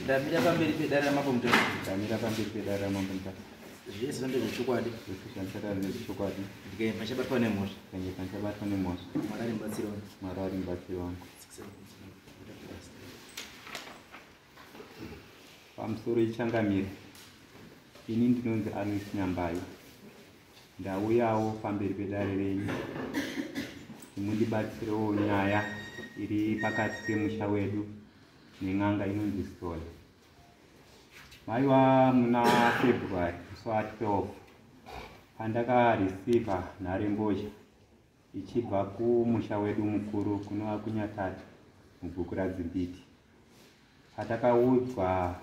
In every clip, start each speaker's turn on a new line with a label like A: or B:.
A: ndamira pamberi pedare ramambo mutasa ndamira pamberi
B: pedare ramambo mutasa zvese zvambe
A: zvechokwadi zvese zvandichataura
B: zvechokwadi ndikaimba chabatwa
A: nemhosva ndikaimba chabatwa
B: nemhosva mwari ari mubatsiri wangu
A: mwari ari mubatsiri
B: wangu pamusoro ichangamire ini ndinonzi anis nyambayo ndauyawo pamberi pedare renyu imundibatsirewo nyaya iri pakati pemusha wedu nen'anga inonzi story maiva muna february musi wa 12 pandakareceiva nharembozha ichibva kumusha wedu mukuru kunova kunyatati mubhuku radzimbiti patakaudzwa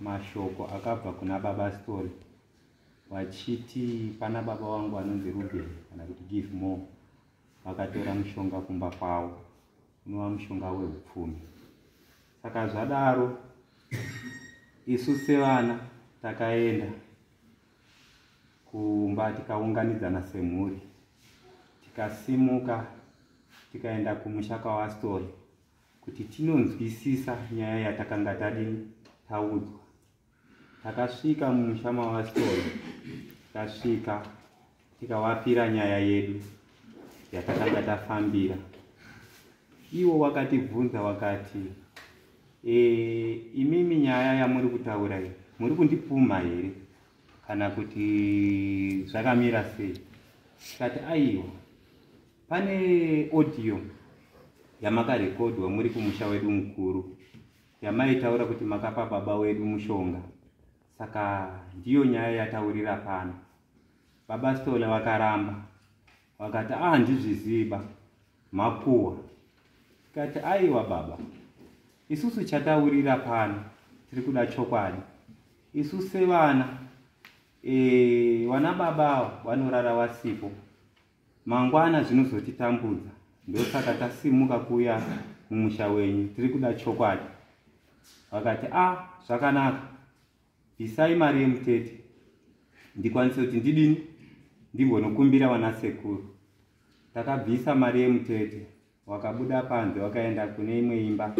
B: mashoko akabva kuna baba story vachiti pana baba wangu anonzi ruben kana kuti give more vakatora mushonga kumba kwavo unova mushonga weupfumi saka zvadaro isu sevana takaenda kumba tikaunganidzana semhuri tikasimuka tikaenda kumusha kwavastori kuti tinonzwisisa nyaya yatakanga tadini taudzwa takasvika mumusha mavastori tasvika tikawapira nyaya yedu yatakanga tafambira iwo wakatibvunza wakati e, imimi nyaya yamuri kutaura iyi muri kundipumha here kana kuti zvakamira sei tikati aiwa pane audio yamakarekodhwa muri kumusha wedu mukuru yamaitaura kuti makapa baba wedu mushonga saka ndiyo nyaya yataurira pano baba stole vakaramba vakati a ah, handizviziva makuwa tikati aiwa baba isusu chataurira pano tiri kuda chokwadi isu sevana e, vana baba avo vanorara vasipo mangwana zvinozotitambudza ndosaka tasimuka kuuya mumusha wenyu tiri kuda chokwadi vakati a ah, zvakanaka Bvisai mari yemutete ndikwanise kuti ndidini ndimbonokumbira vana sekuru. Takabvisa mari yemutete wakabuda panze wakaenda kune imwe imba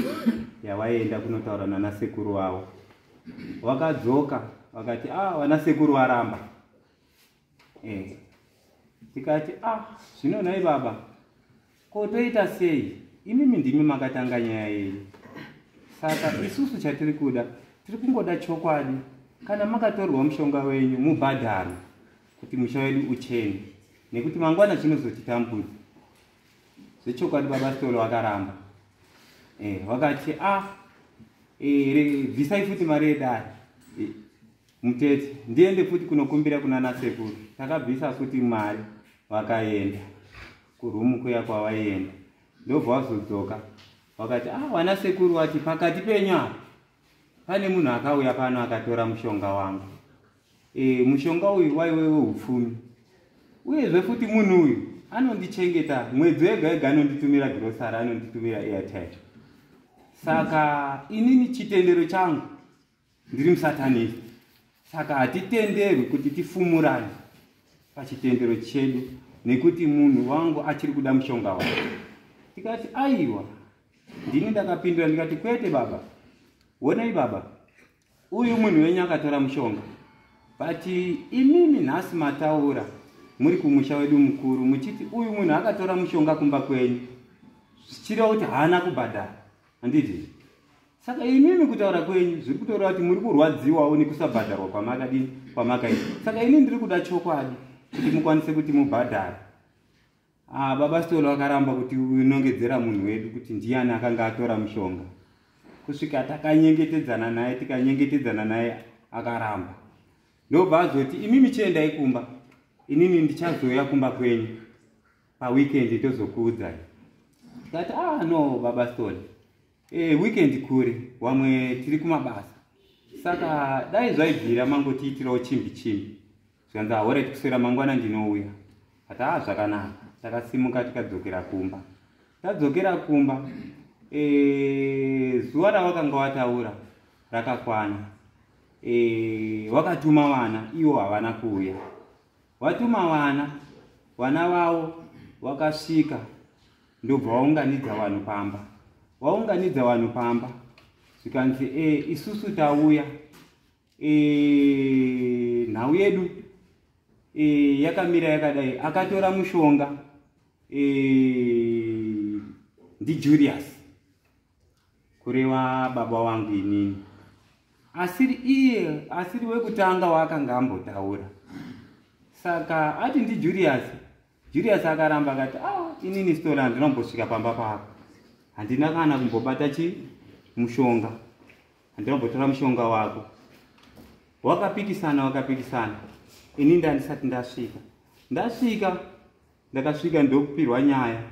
B: yawaienda kunotaura nana sekuru wavo. Wakadzoka wakati ah, vana sekuru varamba eh tikati ah zvino nhai baba ko toita sei imimi ndimi makatanga nyaya yenyu saka isusu chatiri kuda tiri kungoda chokwadi kana makatorwa mushonga wenyu mubhadharo kuti musha wedu uchene nekuti mangwana chinozotitambudza zvechokwadi baba stolo vakaramba eh, vakati ah eh, bvisai futi mari yedare eh, Mutete, ndiende futi kunokumbira kuna nasekuru. Takabvisa futi mari vakaenda kurumu kuya kwavaienda ndobva vazodzoka vakati ah wana sekuru wati pakati penyu apa pane munhu akauya pano akatora mushonga wangu e, mushonga uyu waiwe weupfumi uyezve futi munhu uyu anondichengeta mwedzi wega wega anonditumira grosari anonditumira airtime saka inini chitendero changu ndiri musatanist saka hatitenderwi kuti tifumurane pachitendero chedu nekuti munhu wangu achiri kuda mushonga wake tikati aiwa ndini ndakapindura ndikati kwete baba honai baba uyu munhu wenyu akatora mushonga but imimi nhasi mataura muri kumusha wedu mukuru muchiti uyu munhu akatora mushonga kumba kwenyu zvichireva kuti haana kubhadhara handiti saka imimi kutaura kwenyu zviri kutaura kuti muri kurwadziwawo nekusabhadharwa kwamakadini kwamakaita saka ini ndiri kuda chokwadi kuti mukwanise kuti mubhadhare ah, baba stolo akaramba kuti unongedzera munhu wedu kuti ndiyani akanga atora mushonga kusvika takanyengetedzana naye tikanyengetedzana naye akaramba ndobva azoti imimi chiendai kumba inini ndichazouya kumba kwenyu paweekend tozokuudzai tikati ah no baba stone e, weekend kure wamwe tiri kumabasa saka dai zvaibvira mangotiitirawo chimbi chimbi zvikanzi ahore tikuswera mangwana ndinouya ati ah zvakanaka takasimuka tikadzokera kumba tadzokera kumba e, zuva rawakanga wataura rakakwana e, wakatuma vana iwo havana kuuya Watuma vana, vana vavo vakasvika ndobva waunganidza vanhu pamba. Waunganidza vanhu pamba zvikanzi e, isusu tauya e, nhau yedu e, yakamira yakadai. Akatora mushonga e, ndiJulius kureva baba wangu inini asiri iye asiri wekutanga waakanga ambotaura saka ati ndijulius julius akaramba akati a ah, inini stola ndinombosvika pamba pako handina kana kumbobata chi mushonga handinombotora mushonga wako wakapikisana wakapikisana ini ndandisati ndasvika ndasvika ndakasvika ndokupirwa nyaya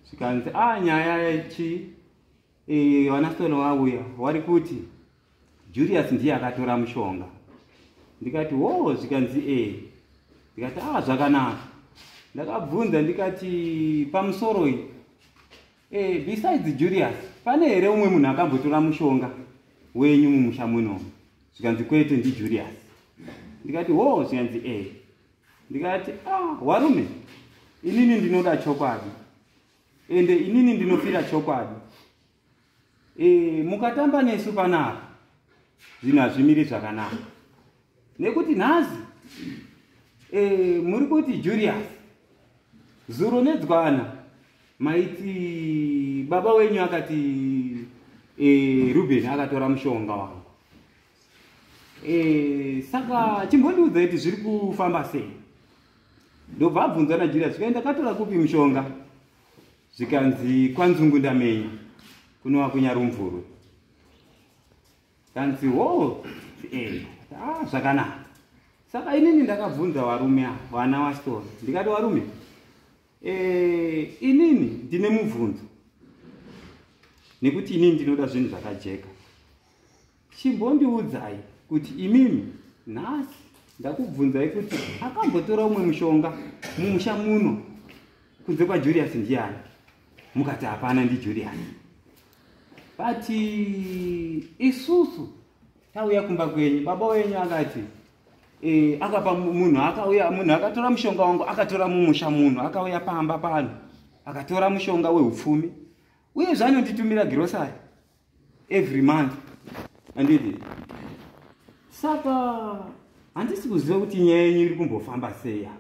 B: zvikanzi a ah, nyaya chii e, vanasitone vauya wari kuti julius ndiye akatora mushonga ndikati wo oh, zvikanzi e ndikati a ah, zvakanaka ndakabvunza ndikati pamusoro iyi e, besides julius pane here umwe munhu akambotora mushonga wenyu mumusha muno zvikanzi kwete ndijulius ndikati wo oh, zvikanzi e ndikati ah warume inini ndinoda chokwadi ende inini ndinofira chokwadi e, mukatamba nesu panapa zvinhu hazvimiri zvakanaka nekuti nhasi e, muri kuti julius zuro nedzwana maiti baba wenyu akati e, ruben akatora mushonga wangu Eh, saka chimbondiudza kuti zviri kufamba sei ndobva abvunza najulia zvikaenda katora kupi mushonga zvikanzi kwanzungu ndamenya kunova kunyarumvurwe kanzi wo oh, eh, ah, zvakanaka saka inini ndakabvunza varume a vana wasitona ndikati varume eh, inini ndine mubvunzo nekuti inini ndinoda zvinhu zvakajeka Chimbondiudzai kuti imimi nhasi ndakubvunzai kuti akambotora umwe mushonga mumusha muno kunze kwaJulius ndiani? Mukati hapana ndiJulius. But isusu tauya kumba kwenyu baba wenyu akati eh, akapa munhu akauya munhu akatora mushonga wangu akatora mumusha munhu akauya pamba pano akatora mushonga weupfumi uye zvanonditumira girosari every month andidi saka handisi kuziva kuti nyaya yenyu iri kumbofamba seya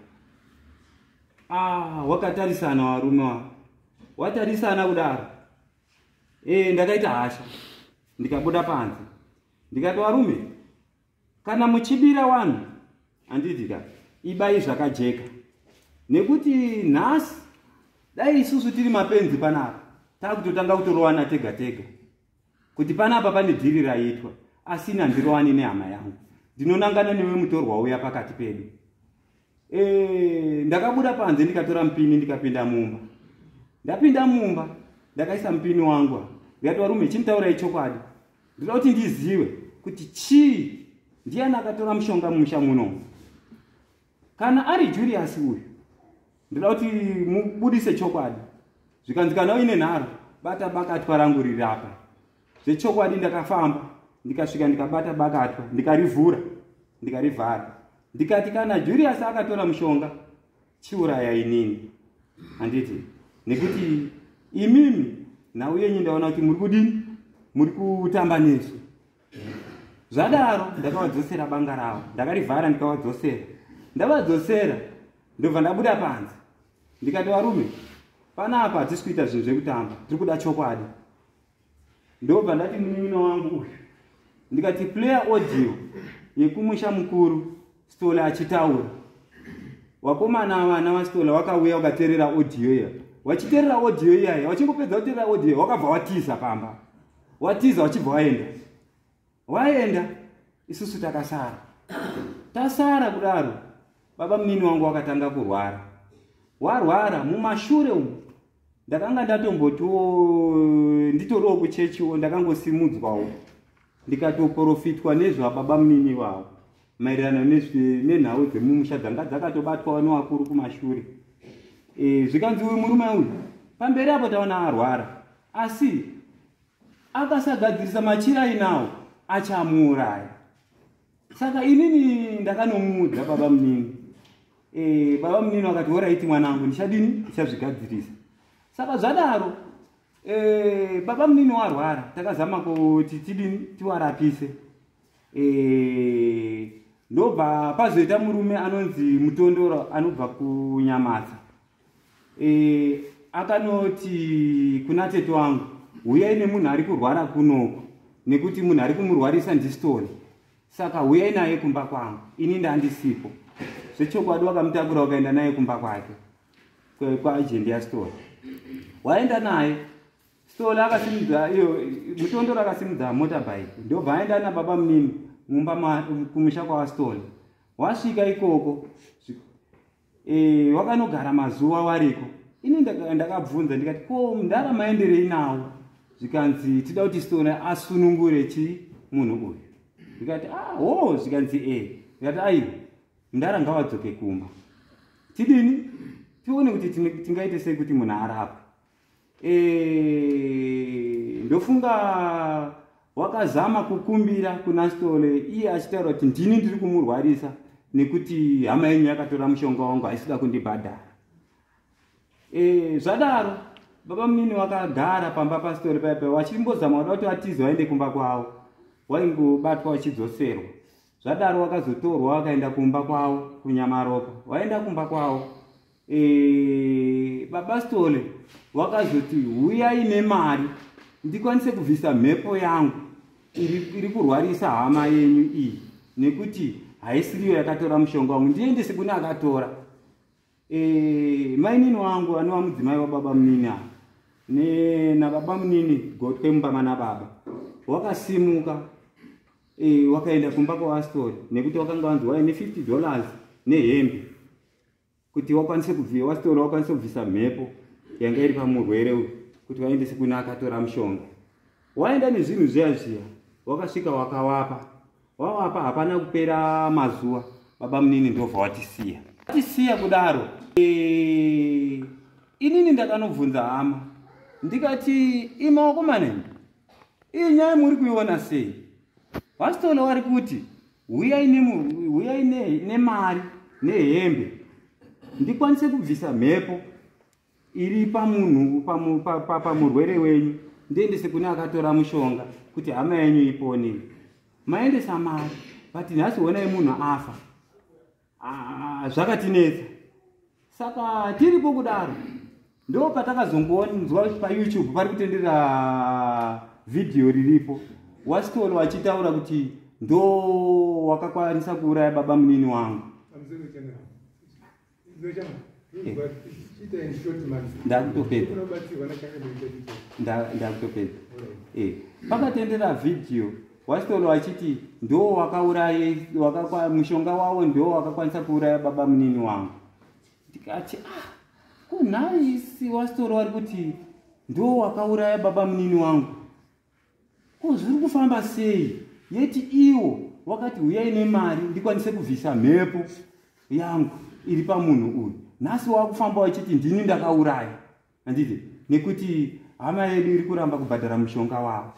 B: ah, wakatarisana varume wa watarisana kudaro e, ndakaita hasha ndikabuda panze ndikati varume kana muchibira wanhu handiti ka ibai zvakajeka nekuti nhasi dai isusu tiri mapenzi panapa takutotanga kutorowana tega tega kuti panapa pane dhiri raiitwa asina ndirowani nehama yangu ndinonangana newe mutorwa uya pakati pedu Eh, ndakabuda panze ndikatora mupini ndikapinda mumba ndapinda mumba ndakaisa mupini wangu ndikati varume chinditaurai chokwadi ndinoda kuti ndizive kuti chii ndiyani akatora mushonga mumusha muno kana ari julius uyu ndinoda kuti mubudise chokwadi zvikanzi kana uine nharo bata bakatwa rangu riri apa zvechokwadi ndakafamba ndikasvika ndikabata bakatwa ndikarivhura ndikarivhara ndikati kana julius akatora mushonga chiuraya inini handiti nekuti imimi nhau yenyu ndaona kuti muri kudini muri kutamba nesu zvadaro ndakavadzosera banga ravo ndakarivhara ndikavadzosera ndavadzosera ndobva ndabuda panze ndikati varume panapa hatisi kuita zvinhu zvekutamba tiri kuda chokwadi ndobva ndati munin'ina wangu uyu ndikati player audio yekumusha mukuru stola achitaura wakomana avana vastola wakauya wakaterera audio iya wachiterera audio iyaya wachingopedza kuterera audio iya wakabva watiza pamba watiza wachibva waenda waenda isusu takasara tasara kudaro baba munini wangu wakatanga kurwara warwara mumashure umu ndakanga ndatombotiwo nditoriwo kuchechiwo ndakangosimudzwawo ndikatoporofitwa nezvababa munini vavo maererano nenhau dzemumusha dzanga dzakatobatwawo nevakuru kumashure e, zvikanzi uyu murume uyu pamberi apo taona arwara asi akasagadzirisa machira inawo achamuuraya saka inini ndakanomuudza baba munini e, baba munini vakati horaiti mwanangu ndichadini ndichazvigadzirisa saka zvadaro e, baba munini warwara takazama kuti tidini tiwarapise e, ndobva pazoita murume anonzi mutondoro anobva kunyamadza e, akanoti kuna tete wangu huyai nemunhu ari kurwara kunoko nekuti munhu ari kumurwarisa ndistoni saka huyai naye kumba kwangu ini ndandisipo zvechokwadi wakamutakura ukaenda naye kumba kwake kwaajendi yasitoni waenda naye sitoni akasimudza iyo mutondoro akasimudza motorbike ndobva aenda nababa munini mumba kumusha kwawasitoni wasvika ikoko Eh, wakanogara mazuva wariko ini ndakabvunza ndikati ko mdara maenderei nawo zvikanzi tida kuti stone asunungure chii munhu uyu zvikati ah, o zvikanzi e eh. zvikati aiwa mdara ngavadzoke kumba tidini tione kuti tingaite sei kuti munhu arapwe Eh, ndofunga wakazama kukumbira kuna stole iye achitaura kuti ndini ndiri kumurwarisa nekuti hama yenyu yakatora mushonga wangu haisida kundibhadhara e, zvadaro baba munini wakagara pamba pasitore paipa wachimbozama wada kuti vatize waende kumba kwavo waingobatwa wachidzoserwa zvadaro wakazotorwa wakaenda kumba kwavo kunyamaropa waenda kumba kwavo e, baba stole wakazoti huyai nemari ndikwanise kubvisa mhepo yangu iri kurwarisa hama yenyu iyi nekuti haisiriyo yakatora mushonga wangu ndiendese kune akatora e, mainini wangu anova mudzimai wababa munini ava nababa munini gotwe mubaba nababa wakasimuka e, wakaenda kumba kwavastori nekuti wakanga wanzi waine 50 dollars nehembe kuti wakwanise kubvisa wasitora wakwanise kubvisa mhepo yanga iri pamurwere uyu kuti vaendese kune akatora mushonga waenda nezvinhu zviya zviya wakasvika wakawapa wawapa hapana kupera mazuva baba munini ndobva watisiya tisiya kudaro e, inini ndakanobvunza hama ndikati imawakomaneni iyi nyaya muri kuiona sei vastolo wari kuti huyai huyai nemari nehembe ndikwanise kubvisa mhepo iri pamunhu pamurwere wenyu ndiendese kune akatora mushonga kuti hama yenyu ipone maendesa mari but nhasi honai munhu afa Ah, zvakatinetsa saka tiripo kudaro ndo patakazongonzwa kuti payoutube pari kutendera vhidhiyo riripo wastol wachitaura kuti ndo wakakwanisa kuuraya baba munini wangu ndakutopedza ndakutopedza eh, pakatendera vhidhiyo Waston wachiti ndo wakauraye wakakwa mushonga wawo ndo wakakwanisa kuuraya baba munini wangu ndikati ah ko nhai si Waston wari kuti ndo wakauraya baba munini wangu ko zviri kufamba sei yeti iwo wakati huyai nemari ndikwanise kubvisa mhepo yangu iri pamunhu uyu nhasi wakufamba wachiti ndini ndakauraya handiti nekuti hama yedu iri kuramba kubhadhara mushonga wavo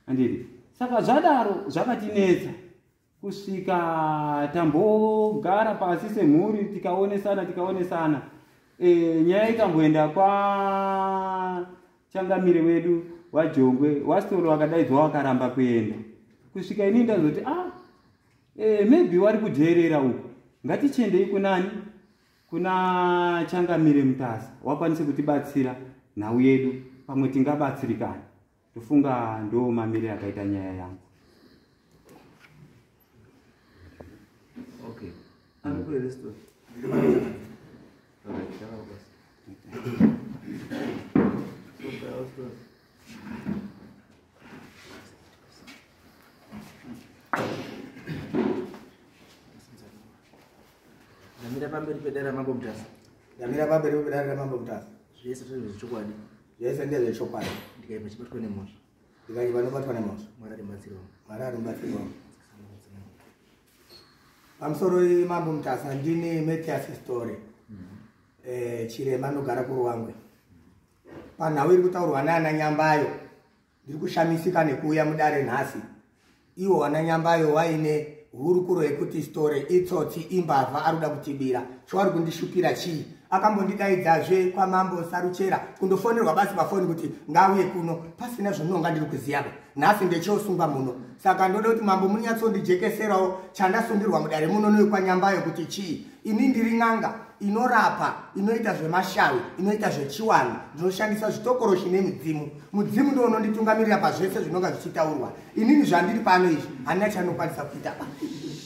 B: andiri saka zvadaro zvakatinetsa kusvika tambogara pasi semhuri tikaonesana tikaonesana e, nyaya ikamboenda kwachangamire wedu wajongwe wasitoro wakadaidzwa wakaramba kuenda kusvika ini ndazoti ah, e, maybe wari kudheerera uku ngatichiendei kunani Kuna Changamire Mutasa wakwanise kutibatsira nhau yedu pamwe tingabatsirikana. Ndofunga ndo mamire akaita nyaya yangu.
A: Okay. Ari ku restaurant. Okay, chama basi. Okay, I was close. ndamira pamberi pedare ramambo mutasa ndamira pamberi
C: pedare ramambo mutasa zvese zvechokwadi
A: zvese
C: ndezvechokwadi ndikaipa chibatwa
A: nemhosva ndikaipa nobatwa
C: nemhosva mwari aribatsirwa mwari
A: aribatsirwa
C: pamusoro imambo mutasa ndini matias story mm-hmm. eh, chirema anogara kuruwangwe panhau iri kutaurwa naana nyambayo Ndiri kushamisika nekuuya mudare nhasi. Iwo wananyambayo waine hurukuro yekuti story itsotsi imbavha ari kuda kutibira. Chowari kundishupira chii? Akambondidaidzazve kwamambo Saruchera kundofonerwa basi pafoni kuti ngauye kuno pasina zvononga ndiri kuziyaba. Nhasi ndechosungwa muno. Saka ndoda kuti mambo munyatsondijekeserawo chandasungirwa mudare muno newekwanyambayo kuti chii? ini ndiri n'anga inorapa inoita zvemashawi inoita zvechiwanhu ndinoshandisa zvitokoroshi nemidzimu mudzimu ndo unonditungamirira pazvese zvinonga zvichitaurwa inini zvandiri pano izvi handina chanokwanisa kuita pa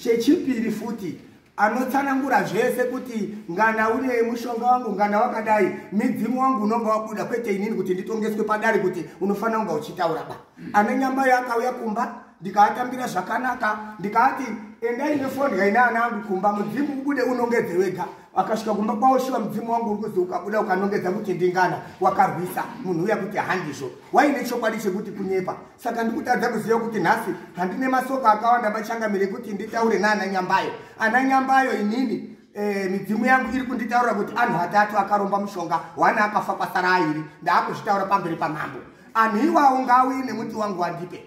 C: chechipiri futi anotsanangura zvese kuti ngana une mushonga wangu ngana wakadai midzimu wangu unonga wabuda kwete inini kuti nditongeswe padari kuti unofanira kunga uchitaura ba ana nyambayo akauya kumba ndikaatambira zvakanaka ndikaati endai nefoni yaine ana angu kumba mudzimu ubude unongedze wega akasvika kumba kwavo shuva mudzimu wangu uri kuzi ukabuda ukanongedza kuti ndingana wakarwisa munhu uya kuti handizvo waine chokwadi chekuti kunyepa saka ndikutadza kuziva kuti nhasi handine masoko akawanda machangamire kuti nditaure naana nyambayo ana nyambayo inini Eh, midzimu yangu iri kunditaura kuti anhu atatu akaromba mushonga wana akafa kwasara airi ndaakuzvitaura pamberi pamambo anhu iwawo ngauye nemuti wangu wandipe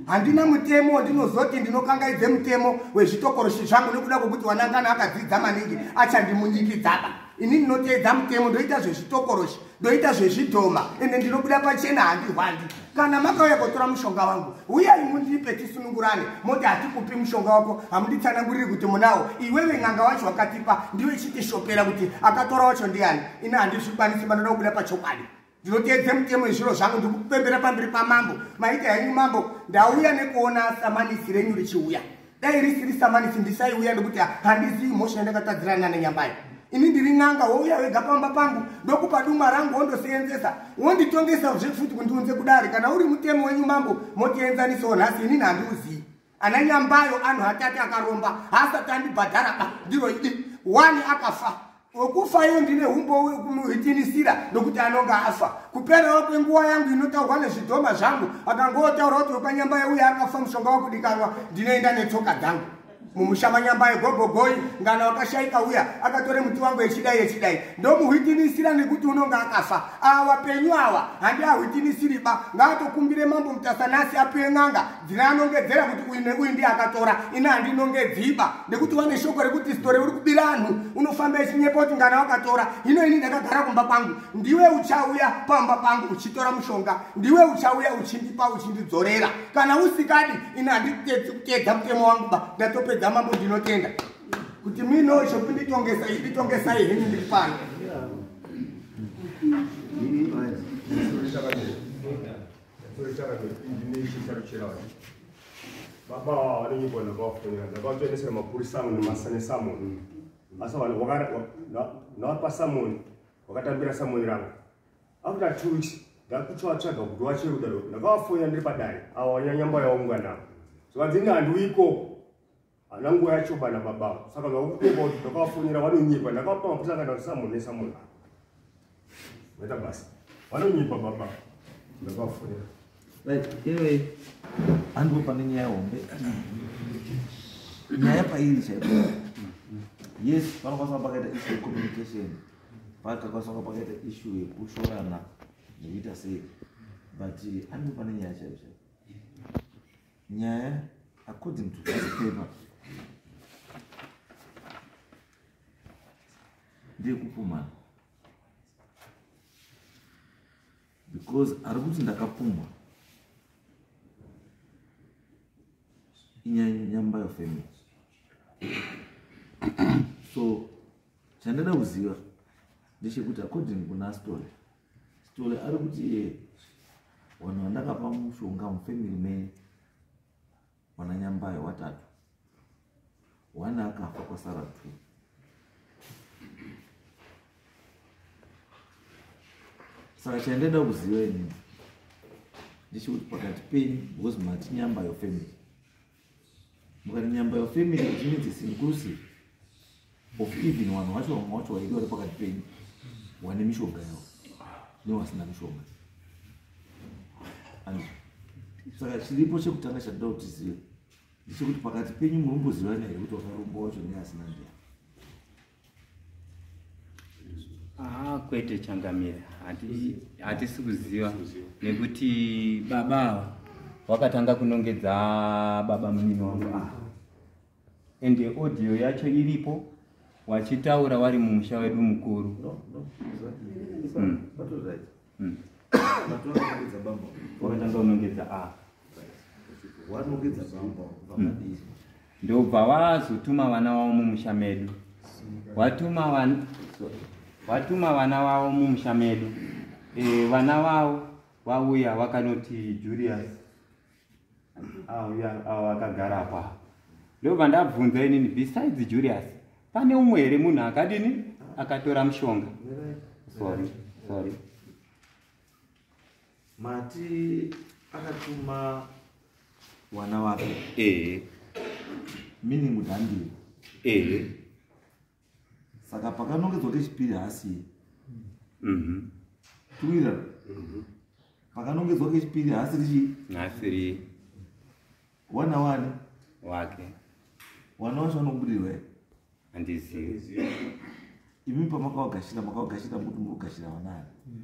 C: handina mutemo wandinozoti ndinokangaidze mutemo wezvitokoroshi zvangu nekuda kwekuti wanangana akadzidza maningi achandimunyikidzaba ini ndinoteedza mutemo ndoita zvezvitokoroshi ndoita zvezvidhoma ende ndinobuda pachena handihwandi kana makauya kotora mushonga wangu uyai mundipe tisunungurane moti hatikupi mushonga wako hamunditsananguriri kuti munawo iwewe n'anga wacho wakatipa ndiwe chitishopera kuti akatora wacho ndiani ina handizvikwanisi manoda kubuda pachokwadi ndinoteedze mutemo yezviro zvangu ndikupembera pamberi pamambo maita henyu mambo ndauya nekuona samanisi renyu richiuya dai risiri samanisi ndisaiuya nekuti handizivi mhosva yandakatadzirana nana nyambai ini ndiri n'anga wouya wega pamba pangu ndokupa duma rangu wondoseenzesa wonditongesa zve futi kundiunze kudare kana uri mutemo wenyu mambo motienzanisawo nhasi inini handiuzivi ana nyambayo anhu atati akaromba haasati andibhadhara ba ndiro idi wani akafa wekufayo ndine umbowo wekumuhitinisira nokuti anonge afa kuperawo kwenguva yangu inotaurwa nezvidhoma zvangu akangotaura kuti wepanyambaye uye akafa mushonga wakudikanwa ndinoenda netsoka dzangu mumusha manyambaye gogogoi ngana wakashaika uya akatore muti wangu yechidai yechidai ndomuhwitinisira nekuti unonge akafa awa penyu awa handiahwitinisiri ba ngaatokumbire mambo mutasanasi apiwe n'anga dzine anongedzera kuti uyu neuyu ndiye akatora ini handinongedziba nekuti wane shoko rekuti sitore uri kubira anhu unofamba ichinyepa kuti ngana wakatora hino ini ndakagara kumba kwangu ndiwe uchauya pamba pangu uchitora mushonga ndiwe uchauya uchindipa uchindidzorera kana usikadi ini handikutedza mutemo wangu ba ndatopedza mambo ndinotenda kuti mino zvekunditongesa iditongesai henyu ndiri pano yeah.
D: baba vanenge bona vafonera ndavatoendesera mapurisa amwe nemasane samoni asi ndavapa samoni wakatambira samoni ravo after two weeks ndakutsvatsvaga kuti wacheruda ndakavafonera ndiri padare avo vanyanyamba yaunga navo so vadzinga handiwiko hana nguva yacho bana baba avo saka vakukomba kuti ndakavafonera vanonyepa ndakavapa mapusa kana ndisamonesa munhu avo maita basa vanonyepa baba ndakavafonera
A: iwe handiwo pane nyaya hombe nyaya pairi chaipo yes panokwanisa kunge pakaita issue yecommunication pakakwanisa kunge pakaita issue yekushorana nekuita sei but handiwo pane nyaya chaipo chaipo nyaya according to this paper ndeyekupumhana because ari kuti ndakapumhwa inyaya nyamba yofamily so chandada kuziva ndechekuti according kuna story Sithole ari kuti iye vanhu vandakapa mushonga mufamily me mwananyambayo watatu one akafa kwasara two saka chandaida kuziva inini ndichikuti pakati penyu because mati nyambayo family mukati nyamba your family which means it's inclusive of even vanhu vacho vamwe vacho vaidi vari pakati penyu wane mishonga yavo nevasina mishonga and saka chiripo chekutanga chatida kuti zive ndechekuti pakati penyu muri kumbozivana here kuti wakaromba wacho neasina ndiya
B: Ah, kwete changamire hatisi kuziva nekuti baba ava wakatanga kunongedza baba munini wangu ava and audio yacho iripo wachitaura wari mumusha wedu mukuru no, no, exactly.
A: mm. Hmm. Vakatanga unongedza
B: a. Ah. Wanongedza
A: bamba vakadii? Hmm. Ndobva
B: wazotuma vana wavo mumusha medu. Watuma vana watuma vana wavo mumusha medu. Eh, vana wavo vauya vakanoti Julius awo akagara apa ndobva ndabvunza inini besides julius pane umwe here munhu akadini akatora mushonga sorry sorry
A: mati akatuma wana wake ee meaning mudhandiri ee saka pakanongedzwa kechipiri hasiye mhm. tuwira mhm. pakanongedzwa kechipiri hasiri chii hasiri wana wani
B: wake
A: wana wacho vanobudirwa here
B: handizivi
A: imi pamakawagashira makawagashira muti murugashira vanani mm.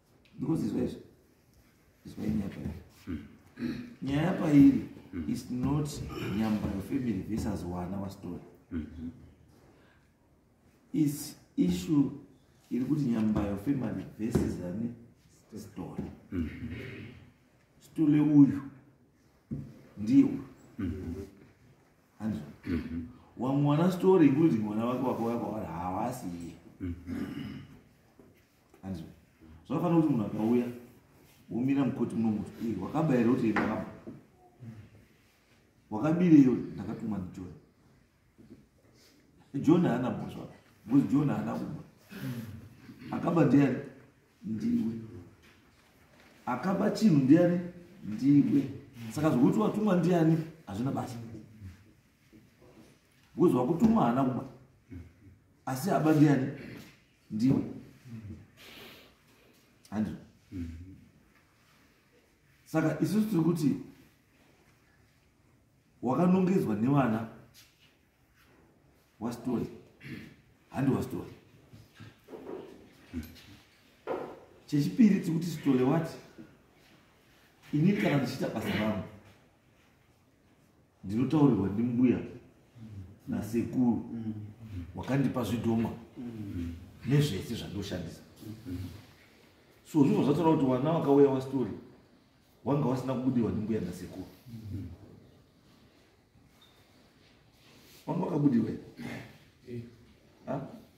A: ndikuzizwa izvo izwa inyaya pairi nyaya pairi is not nyambayo family versus wana wastory is issue iri kuti nyambayo family versus ani story stole uyu ndiye uyu hanzvo wamwana story including mwana wake wako wako havasi iye hanzi zvakafanira kuti munhu akauya womira mukoti muno muti eh, wakaba here kuti ndakaba wakabireyo ndakatumwa ndijohn john haana mhosva bcause john haana kuba akaba ndiani ndiwe akaba chinhu ndiani ndiwe saka zvokuti watumwa ndiani hazvina basa bcause wakutumwa haana kuba asi aba ndiani ndiwe handi saka isusu tiri kuti wakanongedzwa nevana wastori handi wastori chechipiri tiri kuti sitole wati inini kana ndichiita basa rangu ndinotaurirwa ndimbuya nasekuru wakandipa zvidhoma nezvese zvandoshandisa so zvinhu zvatoda kuti wana wakauya wastori wanga wasina kubudirwa ndimbuya nasekuru wanga wakabudirwa eh.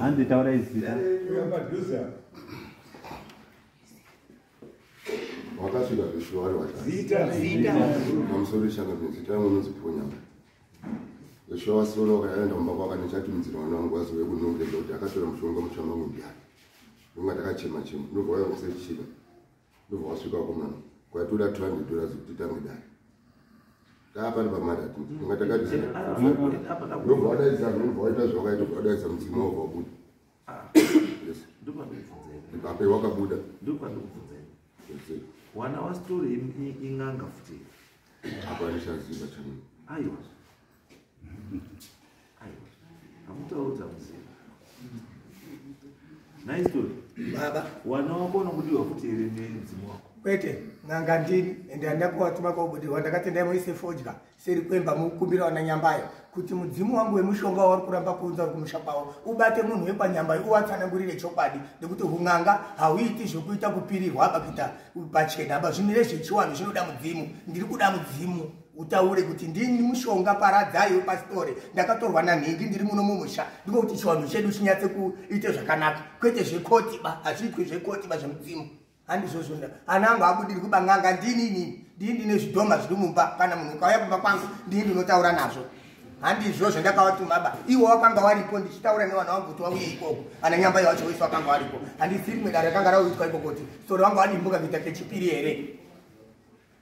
B: hanzi taura izita
E: wakasvika zveshuwari wachamusoro ishanga mizita yangu inoziponya zveshuwa wasoro wakaenda kumba kwaka ndichatumidzira mwana wangu wazove kunongeza kuti akatora mushonga mushama mudya ndonga ndakachema chema ndobva waya kusechika ndobva wasvika kumana kwatoda 200 dollars kuti tange dai taapari pamarati inga takadinobva wadaidza ndobva waita zvawakaita bva wadaidza mudzimu wabva wabuda ipape wakabuda
A: wana wastori inganga futi apa
E: ndichaziva chanu aiwa
A: amutaudza mzee nice story baba wana
C: wako unokudiwa
A: kuti here nemudzimu wako kwete n'anga
C: ndini ende handina kuvatuma kwaubudirwa ndakati ndaimuise fodya seri kwemba mukumbira wana nyambayo kuti mudzimu wangu wemushonga wauri kuramba kuunza uri kumusha kwavo ubate munhu wekwanyambayo uvatsanangurire chokwadi nekuti hun'anga hauiti zvokuita kupirirwa apa kuita pachena apa zvimire zvechiwanhu zvinoda mudzimu ndiri kuda mudzimu utaure kuti ndini mushonga paradzai wepasitore ndakatorwa nanhingi ndiri muno mumusha ndiko kuti chiwanhu chedu chinyatse kuite zvakanaka kwete zvekotiba hazviitwe zvekotiba zvemudzimu handizvozvonda ana angu abudiri kuba n'anga ndini inini ndii ndine zvidhoma zviri mumba kana munhu ukauya kumba kwangu ndii ndinotaura nazvo handizvo zvandakawatumaba iwo wakanga waripo ndichitaura nevana wangu kuti wauye ikoko ana nyambai wacho wese wakanga waripo handisi rimwe dare rakanga rauitwa ikoko kuti sori wanga wadimbuka kuita kechipiri here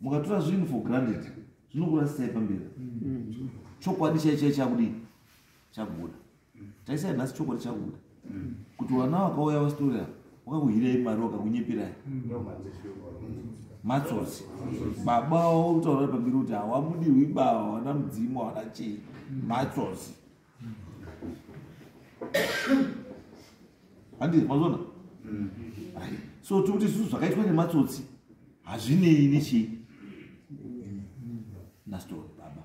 A: mukatora zvinhu for granted zvinokurasisai pamberi chokwadi chai chai chakudii chakubuda taisai nhasi chokwadi chakubuda kuti vana vakauya vasitori ava wakakuhirai mari wakakunyepirai matsotsi baba wavo kutaura pamberi kuti hawamudirwi baba wana mudzimu hawana chii matsotsi handi mazona mm. so tiri kuti zvizvo zvakaitwa nematsotsi hazvinei nechii nastori baba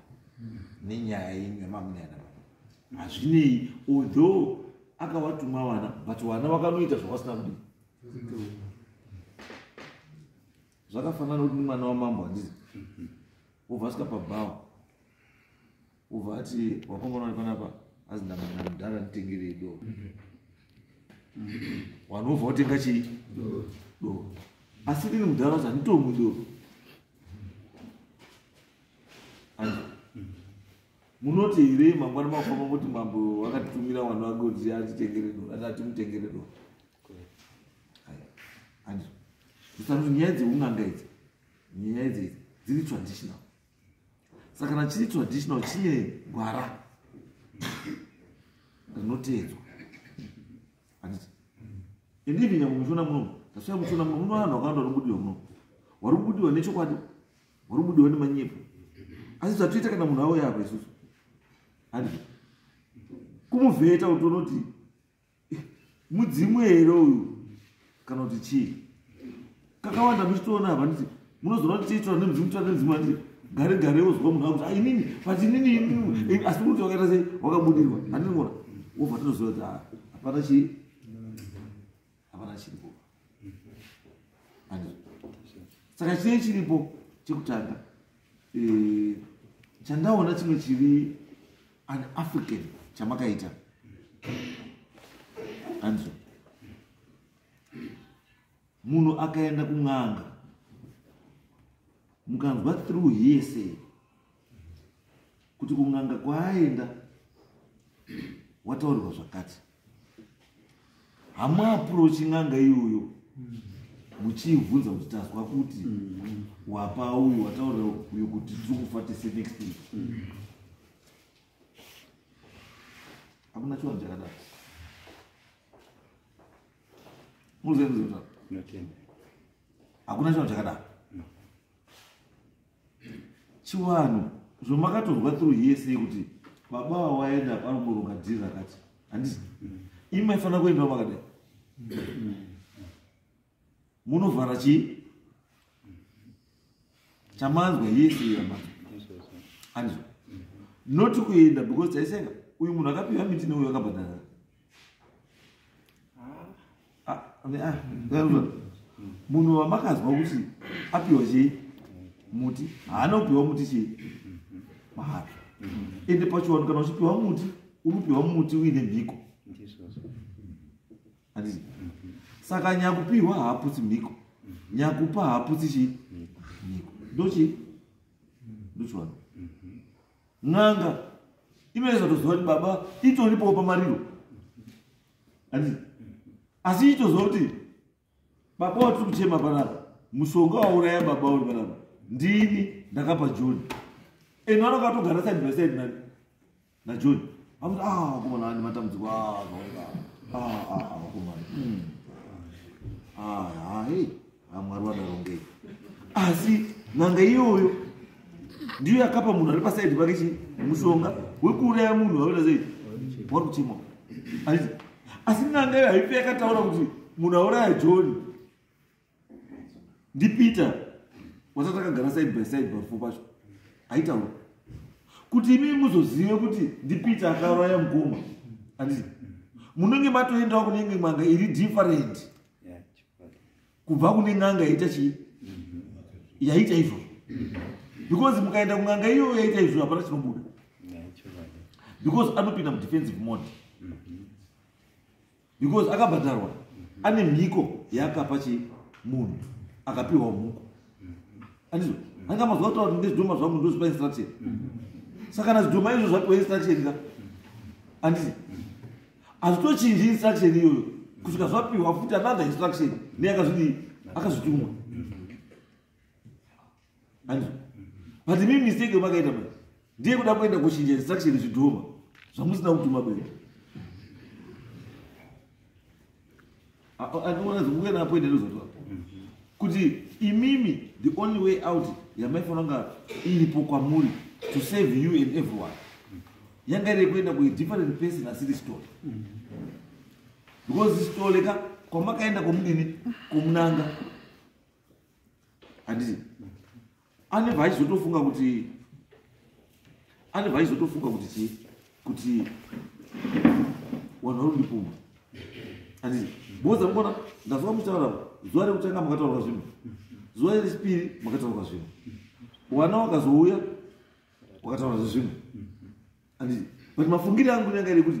A: nenyaya yenyu yamamunayana baba hazvinei although akawatumwa vana but vana vakanoita zvavasina kudii zvakafanana kuti mwana wamambo handizi wobva asika pabhawa ubva ati wakomana uri panapa azi ndamana mudhara nditengerei do wanhu ubva wotenga chii do asi ndini mudhara kuti handitomwi do munoti here mangwana mafamba kuti mambo wakatitumira wanhu wake kuti atitengere do ati atimutengere do handiso ndisakuti nyaya dzeun'anga idzi nyaya idzi dziri traditional saka kana chiri traditional chine gwara rinoteedzwa handiti and even nyangwe muchiona munomu tasvika muchiona munomu muno vanhu vakawanda vanobudiwa munomu wari kubudiwa nechokwadi wari kubudiwa nemanyepo asi zvatoita kana munhu awo yava isusu handiti kumuvheta utonoti mudzimu here uyu kana kuti chii kakawanda muchitoona hava nditi munozoona kuti tiitora nemudzimu titora nemudzimu anditi gare gare wozwa munhu akuti ainini but inini inini asi kuti wakaita sei wakabudirwa handinona wobva tinoziva kuti ah, hapana chii hapana chiripo saka chine chiripo chekutanga eh, chandaona chimwe chiri an african chamakaita anzwa munhu akaenda kun'anga mukanzwa through hese kuti kun'anga kwaaenda wataurirwa zvakati hamuaprochi n'anga iyoyo muchiivhunza kuti tazwa kuti wapa uyu wataurira uyo kuti tiri kufa tese next week hakuna chivanhu chakadaro muzienzeaa hakuna chivanhu chakadaro chivanhu zvomakatonzwa through here sei kuti baba wawaenda apa anoboronga dhiri rakati handisi imi maifanira kuendawo makadai munovhara chii chamanzwa yese yamanzwa handizvo not kuenda because taiseka uyu munhu akapiwa miti neuyo akabhadhara munhu wamakazwa kuti apiwa chei muti haana kupiwa muti chei mahara ende pachiwanu kana uchipiwa muti unopiwa muti uine mhiko andii saka nyakupiwa haaputsi mhiko nyakupa haaputsi chii mhiko ndochii ndochiwanu n'anga imene zatoziva kuti baba itonipawo pamariro ati asi itoziva kuti baba watiri kuchema panapa mushonga wauraya baba uri panapa ndini ndakapa john and vana vakatogara side by side nani najohn akuti a ah, vakomana ane matambudziko aaa ah, ah, vakomana hmm. hai amwari vadarongei asi n'anga iyoyo ndiyo yakapa munhu ari pasaidi pake chi mushonga wekuuraya munhu vaoita sei wari kuchimwa aii asi n'anga iyo haipe yakataura kuti munhu auraya john ndipeter watatakagara side by side parufu pacho haitaura kuti imi muzozive kuti ndipeter akauraya mukoma andii munenge matoendawo kunenge manga iri different kubva kune n'anga yaita chii yaita izvozvo because mukaenda kun'anga iyoyo yaita izvozvo hapana chinobuda because anopinda mudefensive mode because akabhadharwa ane mhiko yaakapa chi munhu akapiwa mhuko andizo anga mazuva kutaura kuti ndezvidhoma zvangu ndozvipa instruction saka kana zvidhoma izvo zvapiwa instruction ka anditi hazvitochinji instruction iyoyo kusvika zvapiwa futi another instruction neyakazvidi akazvitumwa anzwa but mi mistake yomakaita ma ndiye kuda kuenda kuchinja instruction zvidhoma zvamusina kutuma kuenda andiwanazokuenda apo ende ndozotoa kuti imimi the only way out yamaifanira kunga iripo kwamuri to save you and everyone yanga iri kuenda kuidifferent person asiri stole because stole ka kwamakaenda kwomudini kwomunanga handiti Ani vaizotofunga kuti ani vaizotofunga kuti chii kuti wanhu vari ndipumba andii boza mukona ndazoka muchitaura zuva rekutanga makataurwa zvino zuva rechipiri makataurwa zvino wana wakazouya wakataura zvino andii but mafungiri angu nyanga iri kuti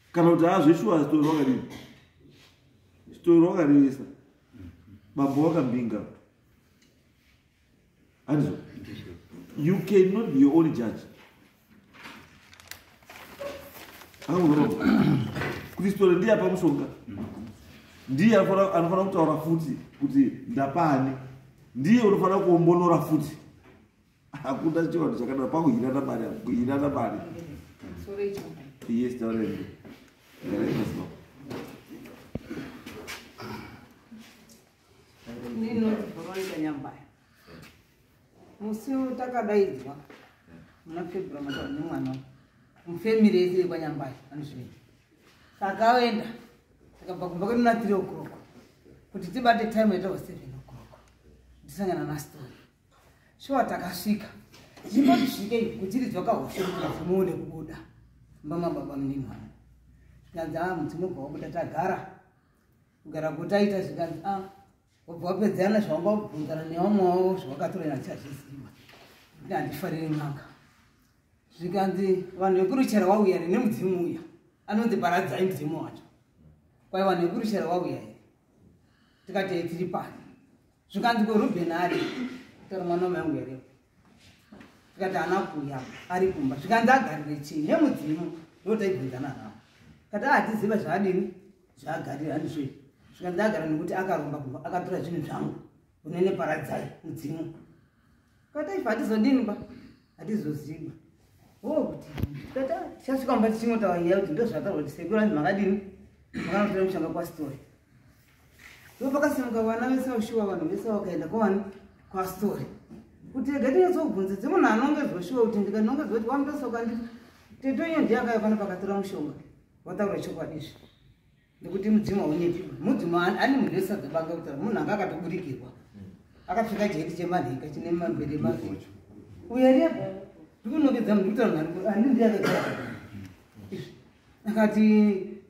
A: kana kuti hazveshuwa zitori wakadii zitori wakarevesa bambo wakambinga handizo you cannot be your own judge kristola ndiye apa mushonga ndiye anofanira kutaura futi kuti ndapani ndiye unofanira kuombonora futi hakuna chivanhu chakadaro pakuhinana mari kuhinana mari yes taurei
F: musi takadaidzwa muna february mataura nemwana mufamily yese yekwanyambaya anozvinei takaenda takabva kumba kwedu na three o'clock kuti tibate time yatawa seven o'clock ndisangana nastory shuwa takasvika zvimba zvisvikei kudziridzwa kahushemuone kubuda mbama baba muninwana zvikanzi a ah, mudzimu bva wabuda tagara kugara kutaita zvikanzi a ah, wabva wapedzana zvawanga wabvunzana nevamwe wavo zvawakatorena chazviziva kuti handifariri n'anga zvikanzi vanhu vekuruchera wauya here nemudzimu uya anonzi paradzai mudzimu wacho kwai vanhu vekuruchera wauya here tikatei tiri pani zvikanzi ko ruben ari tori mwana wamayangu here tikati ana kuya ari kumba zvikanzi agarire chii nemudzimu ndotaibvunzana navo kati ahatiziva zvaadini zvaagarira andizvo zvikanzi agara nekuti akaromba kumba akatora zvinhu zvangu unene paradzai mudzimu kati aifa hatizodini ba hatizoziva o oh, kuti kati ah, tichasvika mumba tichingotaura nyaya kuti ndozvataura kuti sekuru anzi makadini makanotora mushanga kwasitori ndo pakasimuka vana vese vashuva vanhu vese vakaenda kwavani kwastori kuti rega tinyatsobvunza dzemunhu anongezwa shuva kuti ndikanongezwa kuti wamutosoka ndi tetonye ndiye akaya pano pakatora mushonga wataura chokwadi izvi ndikuti mudzimu haunyepi mudzimu ane munhu wese adzabanga kutaura munhu anga akatoburikirwa akapfeka chiheti chemanhenga chine mambere maviri uya repo ndikunongedza munhu kutaura mhari ani ndiye akagara akati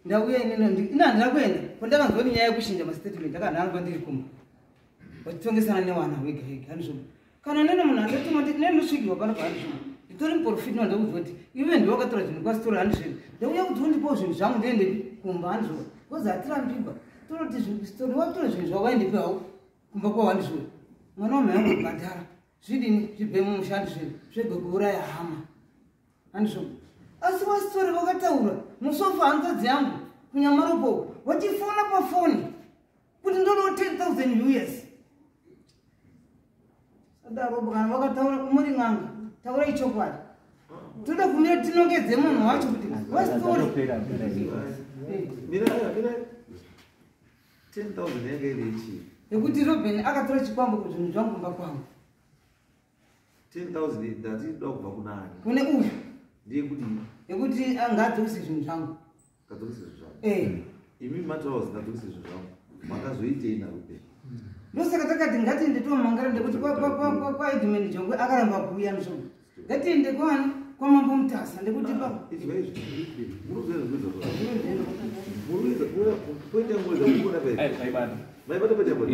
F: ndauya inino ina handina kuenda ko ndakanzwa nenyaya yekushinja mastatement aka ndanzwa ndiri kumba vachitongesana newana wega wega handizvo kana nene munhu andatuma nditi ne ndosvigirwa pano pa handizvo nditori muporofiti no ndakuziva kuti ive ndiwe wakatora zvinhu kwasitori handizvo ndauya kuti undipawo zvinhu zvangu ndiende kumba handizvo bcause hatirambigwa tonoti zvitori watora zvinhu zvavo vaendepi hawo kumba kwavo handizvo mwana wamhai angu bhadhara zvidini zvibhemu musha handizvo zvegwekuuraya hama handizvo asi wasitori vakataura musofa hanzadzi yangu kunyamaropo vachifona pafoni kuti ndodo 10000 us sadarobo kana vakataura muri n'anga taura ichokwadi toda kumira tinongedze munhu wacho kuti wasitori
A: yekuti roben
F: akatora chikwambo kuzvinhu zvangu kumba kwangu
A: 10000 ndatiida kubva kunani kune uyu
F: ndiye kuti
A: yekuti
F: angadzokise zvinhu zvangu ngadzokise zvinhu zvangu
A: eh imi mataura kuti ngadzokise zvinhu zvangu makazoitei narupe ndosaka
F: takati ngatiende tomangara ndekuti kwaedman jongwe akaramba kuuya nzvo ngatiende kwani kwamambo mutasa ndekuti ah, paaibatabatakuti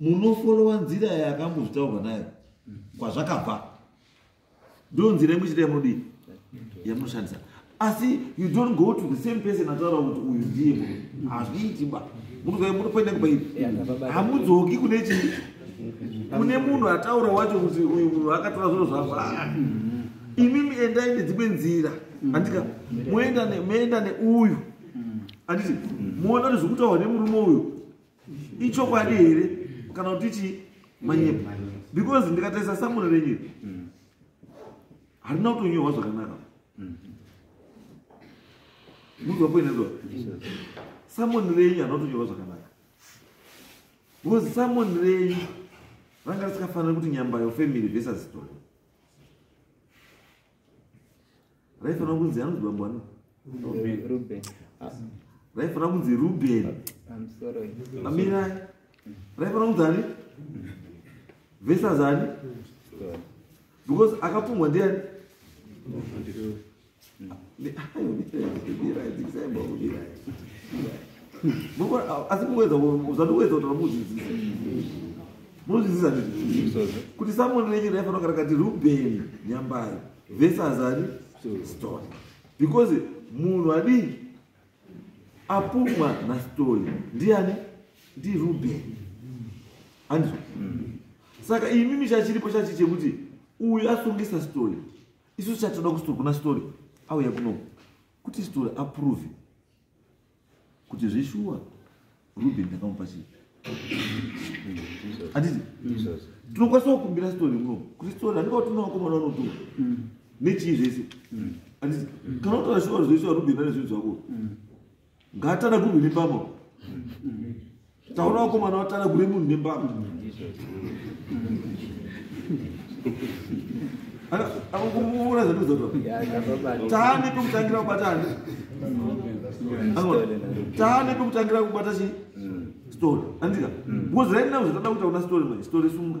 A: munofolowa nzira yakambozvitaurwa nayo kwazvakabva ndo nzira yemuchita yamunodii yamunoshandisa asi you don't go to the same person ataura kuti uyu ndiye mu hazviiti ba munoenda kubairi hamudzoki kune chii kune munhu ataura wacho kuti uyu munhu akatora zviro zvavo ah, imimi endai nedzimwe nzira andika moenda neuyu anditi moona kuti zvokutaurwa nemurume uyu ichokwadi here kana kuti chii manyepo because ndikatarisa samuro renyu mm. harina kutonyorwa zvakanaka mm. muzwa poinezva samoni renyu harina kutonyorwa zvakanaka because samoni renyu ranga risikafanira kuti nyambayo family vesa zitori raifanira kunzi anonzi bambo ano raifanira kunzi ruben amirai raifanira kunzi ani vesazani because akapumwa ndiani asi muwedza zvandiwedza kuti vamudzidzisa munozviziva ndizvi kuti samoni renyu raifanira kugara kati rubeni nyambayo vese azani stone because munhu adii apumwa nastone ndiani ndirubeni andizvo saka imimi chachiripo chachi chekuti uyu asungisa story isu chatoda kustori kuna story auya kuno kuti story aprove kuti zveshuwa ruben ndakamupa chii handiti tinokwanisa kukumbira sitori muno kuti sitori handika kuti unovakomana unotuka nechii zvese handiti kana utora shuwa zvoishuwa ruben ane zvinhu zvako ngaatana kurwini pamo taona vakomana vatana kune munhu nembama akokuona zvatozaa taane pekutangira kubata hande taane pekutangira kubata chi story andika because right now zvatada kuita kuna story mai story sunga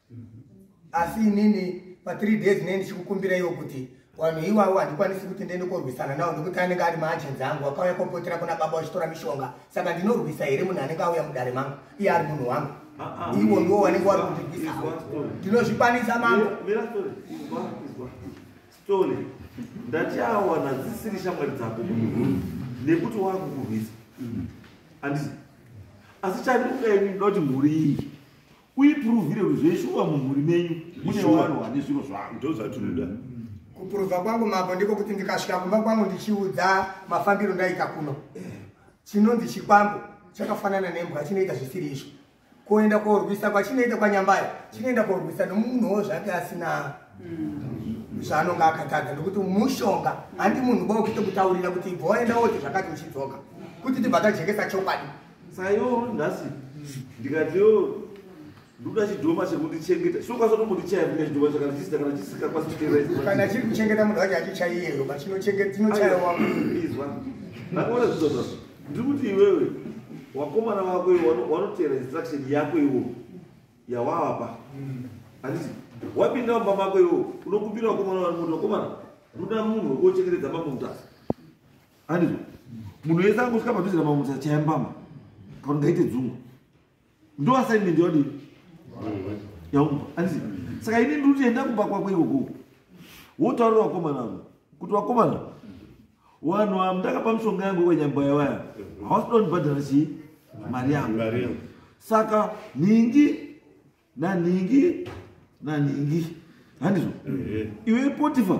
C: asi inini pathree days nei ndichikukumbiraiwo kuti vanhu iwawo handikwanisi kuti ndiende korwisana nawo nekuti anenge ari maagenzi angu akauya kopotera kuna baba vachitora mishonga saka ndinorwisa here munhu anenge auya mudare mangu iye ari munhu wangu ah, ah. ivo ndiwo vanenge wari kundirwisa ndinozvikwanisa mangu
A: ndatiawana dzisiri shamwari dzako nekuti wakukurwisa mm. asi chandikukaini ndokuti mhuri iyi uipuruvhire kuti zveshuwa
D: mumhuri
A: menyu mune vanhu vane zviro zvavo ndo
D: zvatinoda
A: mm. kupuruvha
C: kwangu mambo ndiko kuti ndikasvika kumba kwangu ndichiudza mafambiro ndaita kuno chinonzi chikwambo chakafanana nembwa chinoita zvisiri izvo kuenda korwisa kwachinoita kwanyambayo chinoenda korwisa nomunhuwo zvake asina mm. zvaanonga akatadza nokuti mushonga handi munhu bokito kutaurira kuti ibva waenda woti zvakati uchidzoka kuti tibva tajekesa chokwadi sayo
A: nhasi ndikati yo ndoda chidhoma chekundichengeta so kwasotombotichaya vine chidhoma chakana chisita kana chisikakwasi kuchengeta chiri kuchengeta munhu
C: wacho achichaiyeyo but chinochaya wako izwa
A: ndakaona zvizo zvazo ndiri kuti iwewe wakomana wako iwo wanoteera instruction yako iwo yawawapa handiti wapinda mumba mako iwo unokumbira wakomana wani muti wakomana ndoda munhu wekuochengetedza mambo mutasa andizvo munhu wese angosvika padhuze namamutsa chaya mbama kana ngaite dzungu ndo assignment yadii yaumba andizii saka ini ndiri kuenda kumba kwako ikoko wotaurira vakomana avo kuti vakomana wanhu avo ndakapa mishonga yangu ikwenyambaya vaya havasida kundibhadhara chii mari yangu saka nhingi nanhingi nanhingi handizvo iwe potifa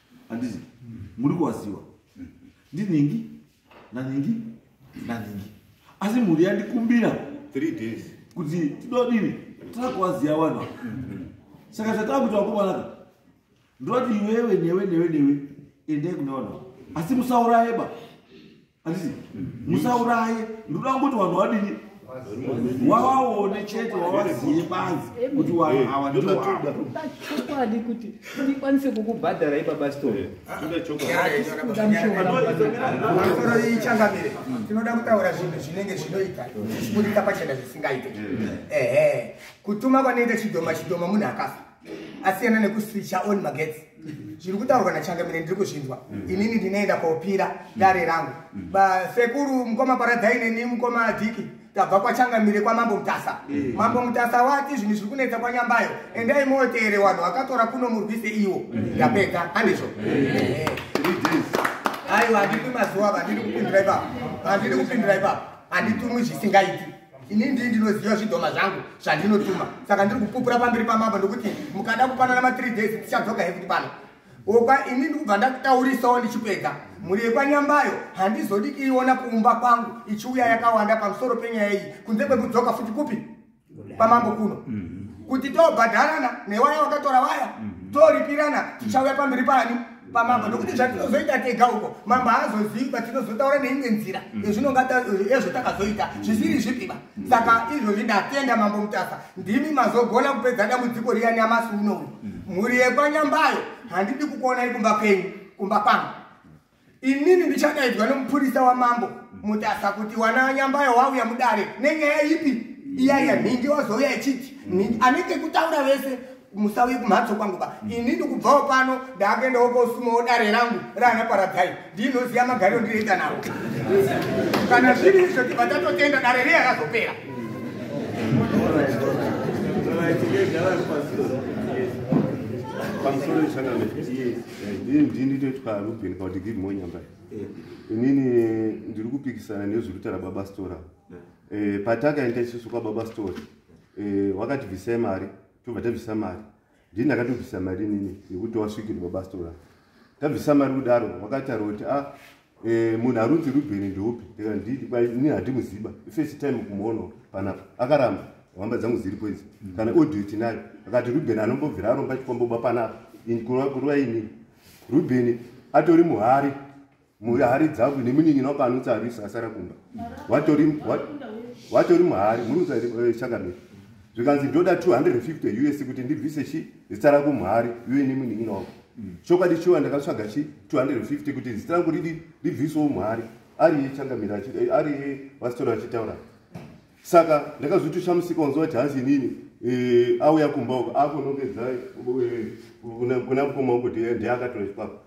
A: handizi muri kuvaziva ndinhingi nanhingi nanhingi asi mhuri yandikumbira three days
E: kuti tidodini
A: takuvaziva vanhu saka chatava kuti vakomanaka ndovati iwewe newe newe newe endai kuna vanhu asi musaurayeba anditi musauraye ndoda kungoti vanhu vadini wawaone chete wawaziye banzi kuti vanhu eh, awa ndowachokwadi
B: kuti ndikwanise kukubhadhara ibaba stoichanga
C: mire tinoda kutaura zvinhu zvinenge zvinoita zvichiburika pachena zvisingaite eh. ehe kutuma kwanoita chidhoma chidhoma munhu akafa asiyana nekuswicha on magetsi zviri kutaurwa nachangamire ndiri kuzvinzwa mm. inini ndinoenda kopira mm. dare rangu mm. basekuru mukoma paradzai neni mukoma diki tabva kwachangamire kwamambo mutasa mambo mutasa wati zvinhu zviri kunetsa kwanyambayo endai motere wanhu vakatora kuno murwise iwo ndapedza handizvo aiwa handidi mazuva vandiri kupindira ipapo handidi kupindira ipapo handitumwi zvisingaiti ini ndii ndinoziva zvidhoma zvangu zvandinotuma saka ndiri kupupura pamberi pamambo ndokuti mukada kupanana mathree days tichadzoka hekuti pano okwa ini ndikubva ndakutaurisawo ndichipedza mhuri yekwanyambayo handizodi iiona kuumba kwangu ichiuya yakawanda pamusoro penyaya iyi kunze kwekudzoka futi kupi pamambo kuno mhm. kuti tobhadharana newaya wakatora waya mhm. toripirana tichauya pamberi pani pamambo nokuti zvatinozoita tega uko mambo haazozivi ba tinozotaura neimwe nzira mm. ezvinongaezvo takazoita zvisiri zvipiba mm. saka izvozvi ndatenda mambo mutasa ndimi mazogona kupedza dambudziko riya nyamasi unou mm. mhuri yekwanyambayo handidi kukuonai kumba kwenyu kumba kwangu inini ndichadaidzwa nomupurisa wamambo mutasa kuti wana nyambayo wauya mudare nenyaya ipi iyaiya nhingi wazouya ichiti anenge kutaura vese musauye kumhatso kwangu ka mm. ini ndikubvawo pano ndaakuendawo kosumawo dare rangu raana paradzai ndinoziva magariro ndinoita navo kana zviri izvo tibva tatotenda dare
E: rei akazopera ndinitoitwa ruben kauti give more nyamba inini ndiri kupikisana nezviruta rababa stora eh, patakaenda isusu kwababa stora eh, wakatibvisai mari tobva tabvisa mari ndini ndakatobvisa mari inini yekuti wasvikirwa basitora tabvisa mari kudaro wakataura kuti a ah, eh, munhu arunzi rubheni ndeupi ndikandini handimuziba first time kumuona panapa akaramba hamba dzangu dziripo idzi mm. kana audio tinayo akati rubheni anombobvira aromba chikomboba panapa kuruva inini rubheni atori muhari mhuri hari dzavo nemunin'ina wako anotsa arisa asara kumba watori muhari murutsa eh, chakamira zvikanzi
D: ndoda 250 us kuti ndibvise chi zita rako muhari iwe nemunin'ina wako mm. chokwadi chiwa ndakatsvaga chi 250 kuti zita rangu ridi ribvisewo muhari ariye changamira eh, ariye vasitora vachitaura saka ndakazoti chamusika wanzwa kuti hanzi inini eh, auya kumba uko akonongedza kuna mukoma uko ndiye akatora chipako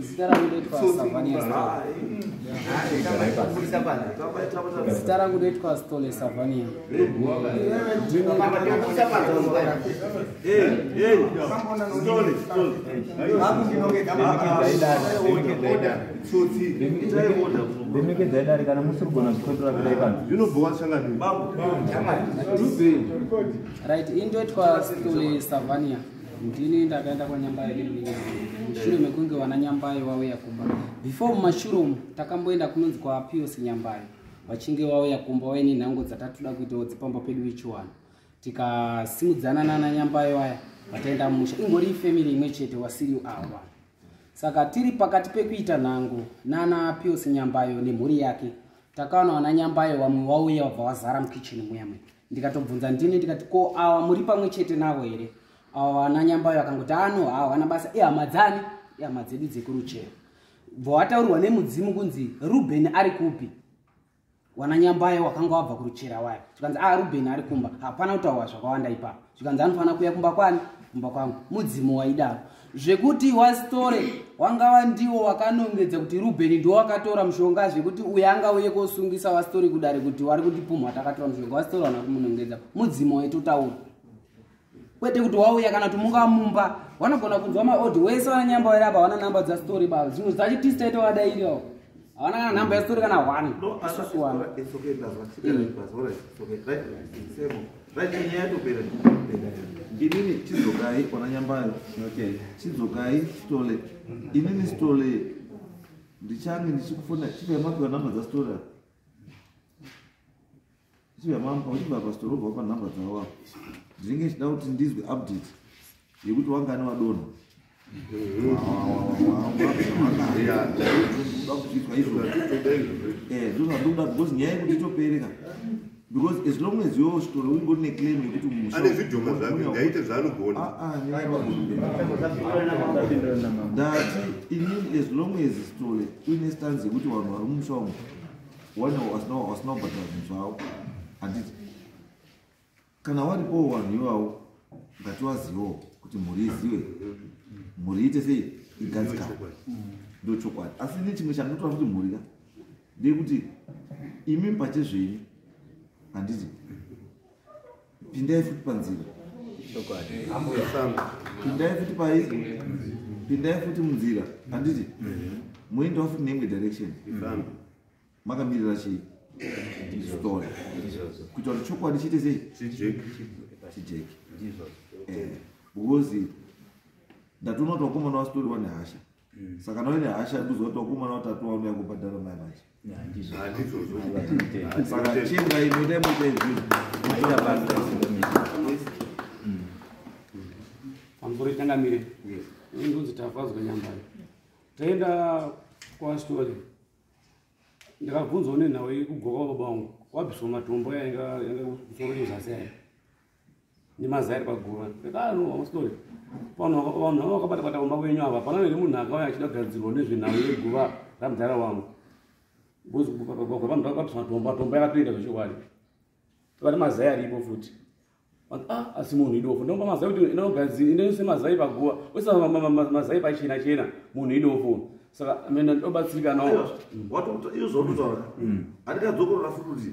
G: zita rangu ndoitwa savaniazita rangu ndoitwa stole savania remekedzai dare kana musiri kugona zvikotora kudai pano zvinobhowa shanganirit indoitwa stole savania ndini ndakaenda kwanyambayo nemunin'ina mushure mekunge vana nyambayo vauya kumba before mumashure umu takamboenda kunonzi kwapios nyambayo vachinge vauya kumba vaine nhango dzatatoda kuitawo dzepamba pedu vechiwana tikasimudzana nana nyambayo aya vataenda mumusha ingori ifamily imwe chete wasiriu awa Saka tiri pakati pekuita nhango nana Pius Nyambayo nemhuri yake. Takaona wana Nyambayo wamwe wauya wabva wazara mukitchen muya mwe. Ndikatobvunza ndini ndikati ko awa muri pamwe chete navo here? Awa wana Nyambayo akangoti ano ah, hawana basa ihama dzani? Ihama dzedu dzekuruchero. Bva wataurwa nemudzimu kunzi Ruben ari kupi? wana nyambaye wakanga wabva kuruchera waya zvikanzi a ah, ruben ari kumba hapana kutaurwa zvakawanda ipapo zvikanzi anofanira kuya kumba kwani kumba kwangu mudzimu waidaro zvekuti wastore wangava ndiwo wakanongedza kuti ruben ndiwo wakatora mushonga zvekuti uye anga uye kosungisa wastore kudare kuti wari kutipumha takatora mushonga wastore wana kumunongedza mudzimu waitotaura kwete kuti wauya kana kuti mungava mumba wanogona kunzwa maodi wese vananyamba vaira apa hawana namba dzastory ba zvinhu zvacho tisi taita vadairiwo hawana kana namba yastory kana one isusu wana
A: inini chidzokai ona nyambayo chidzokai stole inini stole ndichange ndichikufona chipemapiwa namba dzastory uchibva pastor robva upa nhamba dzavo apo ndinenge ndichida kuti ndizwe update yekuti wangani wadona zvozvandikuda because nyaya yekuti itopereka because as long as yo story ungori neclaim yekuti musane zvidhomo zvake
D: ngaite zvaanogona
A: ndati inini as long as story uine stanzi yekuti vanhu vari mumusha umu Wena wasinobata zvinhu zvavo handiti kana waripowo vanhu ivavo ngatiwazivewo kuti mhuri izive mhuri ite sei igadzikana ndo chokwadi asi ne chimwe chandotora kuti mhuri ka ndeyekuti imi pachezvenyu handiti pindai futi panzira pindai futi pai pindai futi munzira handiti moendawo futi neimwe direction makamirira chii story kuita kuti chokwadi chiite sei chijeki eh, because ndatoona kuti wakomana wasitori wane hasha Mm. saka noine hasha yekuziva kuti wakomana watatu waunouya kubhadhara mai vacho saka chinga inoita mutezvi
G: pamusoro itangamire ndonzi tafadzwa nyambari taenda kwastori ndakabvunzwa nenhau yekugoka baba wangu wabviswa matombo yainga kusoro yozasi yayo nemazai ari paguva ekaanoamustori vanhu vanhu vanga vakabata bata kumba kwenyu ava hapana here munhu akauya achida kugadzirwa nezvenhau yeguva ramudhara wangu bcause vanhu vakatomba tomba yakatoita zvechokwadi vane mazai aripo futi ah, asi munhu idofo ndomba mazai kuti inogadzira inose mazai paguva wese mazai pachena chena munhu idofo saka mene ndobatsirika nawo watoita izvo
A: zvototaura handikadzokorora futi kuti